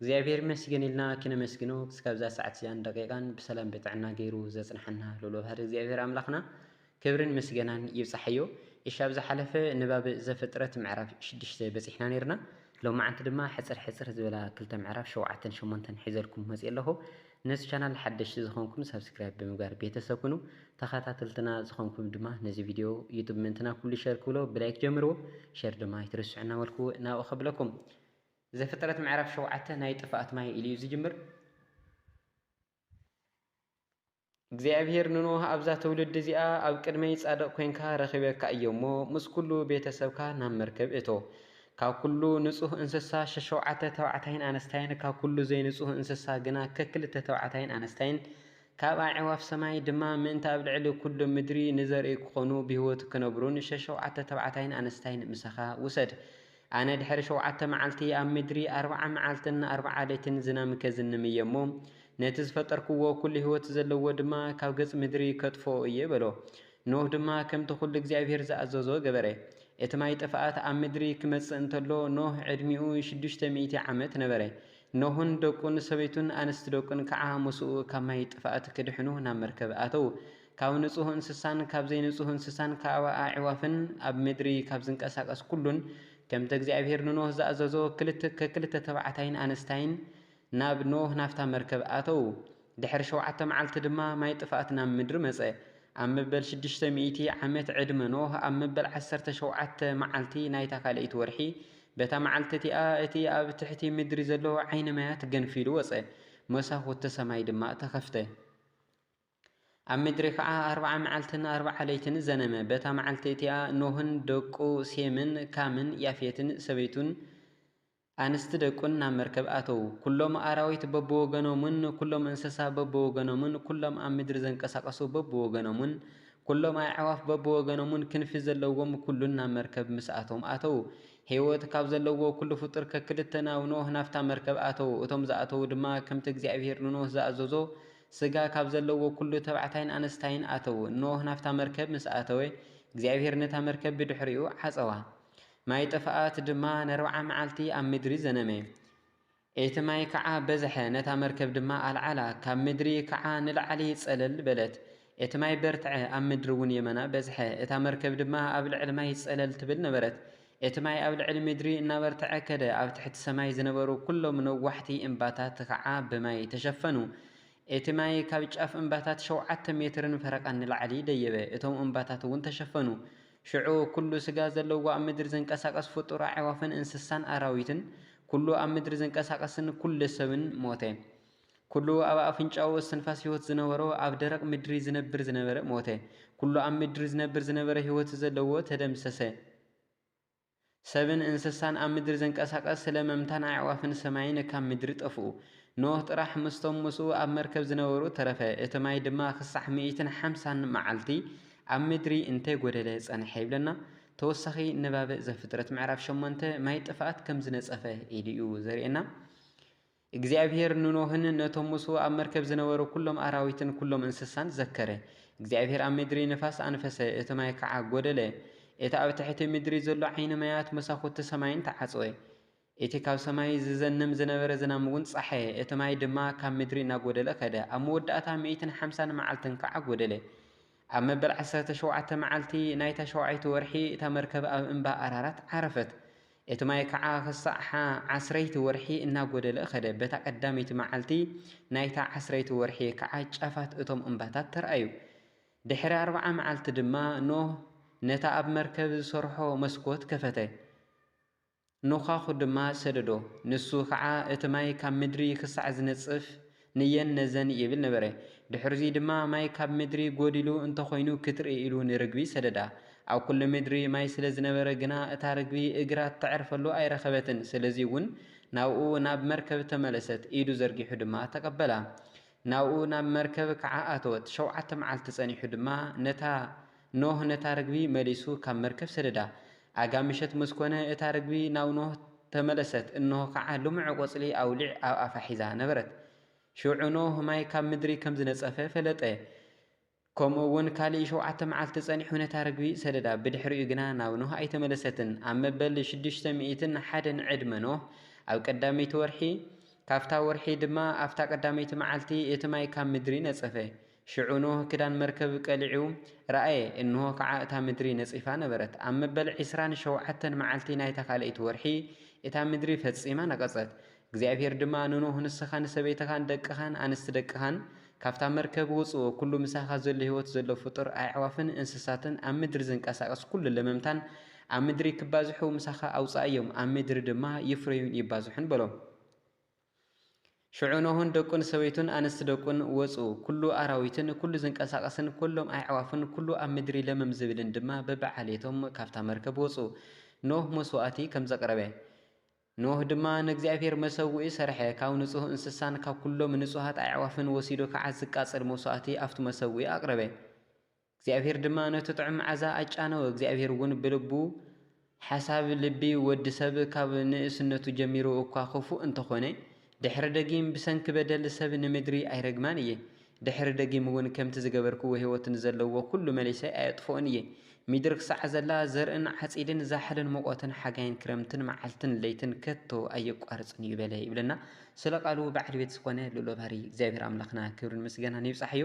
እግዚኣብሔር ይመስገን ኢልና ክነመስግኖ ክስካብ እዛ ሰዓት እዚኣን ደቂቃን ብሰላም ብጥዕና ገይሩ ዘጽንሓና ልኡለ ባህሪ እግዚኣብሔር ኣምላኽና ክብርን ምስገናን ይብጻሓዮ። እሺ ኣብ ዝሓለፈ ንባብ ዘፍጥረት ምዕራፍ ሽዱሽተ በጺሕና ኔርና ሎማዓንቲ ድማ ሕጽር ሕጽር ዝበላ ክልተ ምዕራፍ ሸውዓተን ሸሞንተን ሒዘልኩም መጽየ ኣለኹ። ነዚ ቻናል ሓደሽቲ ዝኾንኩም ሳብስክራይብ ብምግባር ቤተሰብ ኩኑ ተኸታተልትና ዝኾንኩም ድማ ነዚ ቪድዮ ዩቱብ ምእንትና ኩሉ ሸር ክብሎ ብላይክ ጀምርዎ ሸር ድማ ኣይትርስዑ እናበልኩ ናብኡ ከብለኩም። ዘፍጥረት ምዕራፍ ሸውዓተ ናይ ጥፍኣት ማይ ኢሉ እዩ ዝጅምር። እግዚኣብሄር ንኖህ ኣብዛ ትውልዲ እዚኣ ኣብ ቅድመይ ጻድቕ ኰንካ ረኺበካ እየ እሞ ምስ ኵሉ ቤተ ሰብካ ናብ መርከብ እቶ። ካብ ኵሉ ንጹህ እንስሳ ሸሸውዓተ ተባዕታይን ኣነስታይን ካብ ኵሉ ዘይንጹህ እንስሳ ግና ከክልተ ተባዕታይን ኣነስታይን ካብ ኣዕዋፍ ሰማይ ድማ ምእንቲ ኣብ ልዕሊ ኵሉ ምድሪ ንዘርኢ ክዀኑ ብህይወት ክነብሩን ሸሸውዓተ ተባዕታይን ኣነስታይን ምሳኻ ውሰድ። ኣነ ድሕሪ ሸውዓተ መዓልቲ ኣብ ምድሪ ኣርብዓ መዓልትን ኣርብዓ ለይትን ዝናም ከዝንም እየ እሞ፣ ነቲ ዝፈጠርክዎ ኵሉ ህይወት ዘለዎ ድማ ካብ ገጽ ምድሪ ከጥፍኦ እየ በሎ። ኖህ ድማ ከምቲ ኵሉ እግዚኣብሄር ዝኣዘዞ ገበረ። እቲ ማይ ጥፍኣት ኣብ ምድሪ ኪመጽእ እንተሎ ኖህ ዕድሚኡ ሽዱሽተ ሚእቲ ዓመት ነበረ። ኖህን ደቁን ሰበይቱን ኣንስቲ ደቁን ከዓ ምስኡ ካብ ማይ ጥፍኣት ኪድሕኑ ናብ መርከብ ኣተዉ። ካብ ንጹህ እንስሳን ካብ ዘይንጹህ እንስሳን ካብ ኣዕዋፍን ኣብ ምድሪ ካብ ዝንቀሳቐስ ኩሉን ከምቲ እግዚኣብሄር ንኖህ ዝኣዘዞ ከክልተ ተባዕታይን ኣንስታይን ናብ ኖህ ናብታ መርከብ ኣተዉ። ድሕሪ ሸውዓተ መዓልቲ ድማ ማይ ጥፍኣት ናብ ምድሪ መጸ። ኣብ መበል ሽዱሽተ ሚእቲ ዓመት ዕድመ ኖህ ኣብ መበል ዓሰርተ ሸውዓተ መዓልቲ ናይታ ካልኣይቲ ወርሒ በታ መዓልቲ እቲኣ እቲ ኣብ ትሕቲ ምድሪ ዘሎ ዓይኒ ማያት ገንፊሉ ወጸ፣ መሳኹቲ ሰማይ ድማ ተኸፍተ። ኣብ ምድሪ ኸዓ ኣርብዓ መዓልትን ኣርብዓ ለይትን ዘነመ። በታ መዓልቲ እቲኣ ኖህን ደቁ ሴምን ካምን ያፌትን ሰበይቱን ኣንስቲ ደቁን ናብ መርከብ ኣተዉ። ኵሎም ኣራዊት በብወገኖምን ኵሎም እንስሳ በብወገኖምን ኵሎም ኣብ ምድሪ ዘንቀሳቐሱ በብወገኖምን ኵሎም ኣዕዋፍ በብወገኖምን ክንፊ ዘለዎም ኵሉን ናብ መርከብ ምስኣቶም ኣተዉ። ህይወት ካብ ዘለዎ ኵሉ ፍጡር ከክልተ ናብ ኖህ ናብታ መርከብ ኣተዉ። እቶም ዝኣተዉ ድማ ከምቲ እግዚኣብሄር ንኖህ ዝኣዘዞ ስጋ ካብ ዘለዎ ኵሉ ተባዕታይን ኣንስታይን ኣተዉ። ኖህ ናብታ መርከብ ምስ ኣተወ፣ እግዚኣብሄር ነታ መርከብ ብድሕሪኡ ዓጸዋ። ማይ ጥፍኣት ድማ ነርብዓ መዓልቲ ኣብ ምድሪ ዘነመ። እቲ ማይ ከኣ በዝሐ፣ ነታ መርከብ ድማ ኣልዓላ፣ ካብ ምድሪ ከኣ ንላዕሊ ጸለል በለት። እቲ ማይ በርትዐ፣ ኣብ ምድሪ እውን የመና በዝሐ፣ እታ መርከብ ድማ ኣብ ልዕሊ ማይ ጸለል ትብል ነበረት። እቲ ማይ ኣብ ልዕሊ ምድሪ እናበርተዐ ከደ፣ ኣብ ትሕቲ ሰማይ ዝነበሩ ኵሎም ነዋሕቲ እምባታት ኸዓ ብማይ ተሸፈኑ። እቲ ማይ ካብ ጫፍ እምባታት ሸውዓተ ሜትርን ፈረቓን ንላዕሊ ደየበ፣ እቶም እምባታትውን ተሸፈኑ። ሽዑ ኵሉ ስጋ ዘለዎ ኣብ ምድሪ ዝንቀሳቐስ ፍጡር ኣዕዋፍን እንስሳን ኣራዊትን፣ ኵሉ ኣብ ምድሪ ዝንቀሳቐስን ኵሉ ሰብን ሞተ። ኵሉ ኣብ ኣፍንጫኡ እስትንፋስ ህይወት ዝነበሮ ኣብ ደረቕ ምድሪ ዝነብር ዝነበረ ሞተ። ኵሉ ኣብ ምድሪ ዝነብር ዝነበረ ህይወት ዘለዎ ተደምሰሰ። ሰብን እንስሳን ኣብ ምድሪ ዘንቀሳቐስ ስለ መምታን ኣዕዋፍን ሰማይን ካብ ምድሪ ጠፍኡ። ኖህ ጥራሕ ምስቶም ምስኡ ኣብ መርከብ ዝነበሩ ተረፈ፣ እቲ ማይ ድማ ኽሳዕ ሚእትን ሓምሳን መዓልቲ ኣብ ምድሪ እንተ ጐደለ ጸንሐ ይብለና። ተወሳኺ ንባብ ዘፍጥረት ምዕራፍ ሸሞንተ ማይ ጥፍኣት ከም ዝነጸፈ ኢሉ እዩ ዘርእየና። እግዚኣብሄር ንኖህን ነቶም ምስኡ ኣብ መርከብ ዝነበሩ ኵሎም ኣራዊትን ኵሎም እንስሳን ዘከረ። እግዚኣብሄር ኣብ ምድሪ ንፋስ ኣንፈሰ፣ እቲ ማይ ከኣ ጐደለ። እቲ ኣብ ትሕቲ ምድሪ ዘሎ ዓይኒ ማያት መሳዅቲ ሰማይን ተዓጽወ። እቲ ካብ ሰማይ ዝዘንም ዝነበረ ዝናምውን ጸሓየ፣ እቲ ማይ ድማ ካብ ምድሪ እናጐደለ ከደ፣ ኣብ መወዳእታ ሚእትን ሓምሳን መዓልትን ከኣ ጐደለ። ኣብ መበል ዓሰርተ ሸውዓተ መዓልቲ ናይታ ሸውዓይቲ ወርሒ እታ መርከብ ኣብ እምባ ኣራራት ዓረፈት። እቲ ማይ ከኣ ክሳዕ ሓ ዓስረይቲ ወርሒ እናጎደለ ከደ፣ በታ ቀዳመይቲ መዓልቲ ናይታ ዓስረይቲ ወርሒ ከኣ ጫፋት እቶም እምባታት ተራእዩ። ድሕሪ ኣርብዓ መዓልቲ ድማ ኖህ ነታ ኣብ መርከብ ዝሰርሖ መስኮት ከፈተ። ኖዃዅ ድማ ሰደዶ፣ ንሱ ኸዓ እቲ ማይ ካብ ምድሪ ኽሳዕ ዚነጽፍ ንየን ነዘን ይብል ነበረ። ድሕርዙይ ድማ ማይ ካብ ምድሪ ጐዲሉ እንተ ዀይኑ ክትርኢ ኢሉ ንርግቢ ሰደዳ። ኣብ ኵሉ ምድሪ ማይ ስለ ዝነበረ ግና እታ ርግቢ እግራ እተዕርፈሉ ኣይረኸበትን፣ ስለዙይውን ናብኡ ናብ መርከብ ተመለሰት፣ ኢዱ ዘርጊሑ ድማ ተቐበላ። ናብኡ ናብ መርከብ ከዓ ኣተወት፣ ሸውዓተ መዓልቲ ጸኒሑ ድማ ነታ። ኖህ ነታ ርግቢ መሊሱ ካብ መርከብ ሰደዳ። ኣጋ ምሸት ምስ ኮነ እታ ርግቢ ናብ ኖህ ተመለሰት፣ እንሆ ኸዓ ልሙዕ ቈጽሊ ኣውሊዕ ኣብ ኣፋ ሒዛ ነበረት። ሽዑ ኖህ ማይ ካብ ምድሪ ከም ዝነጸፈ ፈለጠ፣ ከምኡውን ካልእ ሸውዓተ መዓልቲ ጸኒሑ ነታ ርግቢ ሰደዳ፣ ብድሕሪኡ ግና ናብ ኖህ ኣይተመለሰትን። ኣብ መበል ሽዱሽተ ሚእትን ሓደን ዕድመ ኖህ፣ ኣብ ቀዳመይቲ ወርሒ፣ ካብታ ወርሒ ድማ ኣብታ ቀዳመይቲ መዓልቲ፣ እቲ ማይ ካብ ምድሪ ነጸፈ። ሽዑ ኖህ ክዳን መርከብ ቀሊዑ ረኣየ፣ እንሆ ኸዓ እታ ምድሪ ነጺፋ ነበረት። ኣብ መበል ዕስራን ሸውዓተን መዓልቲ ናይታ ኻልኣይቲ ወርሒ፣ እታ ምድሪ ፈጺማ ነቐጸት። እግዚኣብሄር ድማ ንኖህ፣ ንስኻን ሰበይትኻን ደቅኻን ኣንስቲ ደቅኻን ካብታ መርከብ ውጹ፣ ኵሉ ምሳኻ ዘሎ ህይወት ዘሎ ፍጡር፣ ኣዕዋፍን እንስሳትን ኣብ ምድሪ ዝንቀሳቐስ ኵሉ ለመምታን ኣብ ምድሪ ኪባዝሑ ምሳኻ ኣውጽኣዮም፣ ኣብ ምድሪ ድማ ይፍረዩን ይባዝሑን በሎ። ሽዑ ኖህን ደቁን ሰበይቱን ኣንስቲ ደቁን ወጹ፣ ኵሉ ኣራዊትን ኵሉ ዚንቀሳቐስን ኵሎም ኣዕዋፍን ኵሉ ኣብ ምድሪ ለምም ዚብልን ድማ በብዓሌቶም ካብታ መርከብ ወጹ። ኖህ መስዋእቲ ከም ዘቕረበ። ኖህ ድማ ንእግዚኣብሄር መሰውኢ ሰርሐ፣ ካብ ንጹህ እንስሳን ካብ ኵሎም ንጹሃት ኣዕዋፍን ወሲዱ ኸኣ ዚቃጸል መስዋእቲ ኣብቲ መሰውኢ ኣቕረበ። እግዚኣብሄር ድማ ነቲ ጥዑም መዓዛ ኣጫነወ፣ እግዚኣብሄርውን ብልቡ፣ ሓሳብ ልቢ ወዲ ሰብ ካብ ንእስነቱ ጀሚሩ እኳ ኽፉእ እንተ ዀነ፣ ድሕሪ ደጊም ብሰንኪ በደል ሰብ ንምድሪ ኣይረግማን እየ፣ ድሕሪ ደጊምውን ከምቲ ዝገበርክዎ ህይወት ንዘለዎ ዅሉ መሊሰ ኣየጥፍኦን እየ፣ ምድሪ ኽሳዕ ዘላ፣ ዘርእን ዓጺድን ዛሕልን ሙቐትን ሓጋይን ክረምትን መዓልትን ለይትን ከቶ ኣየቋርጽን እዩ በለ ይብለና ስለ ቃሉ በዓል ቤት ዝኾነ ልኡለ ባህሪ እግዚኣብሄር ኣምላኽና ክብርን ምስጋናን ይብጻሕዮ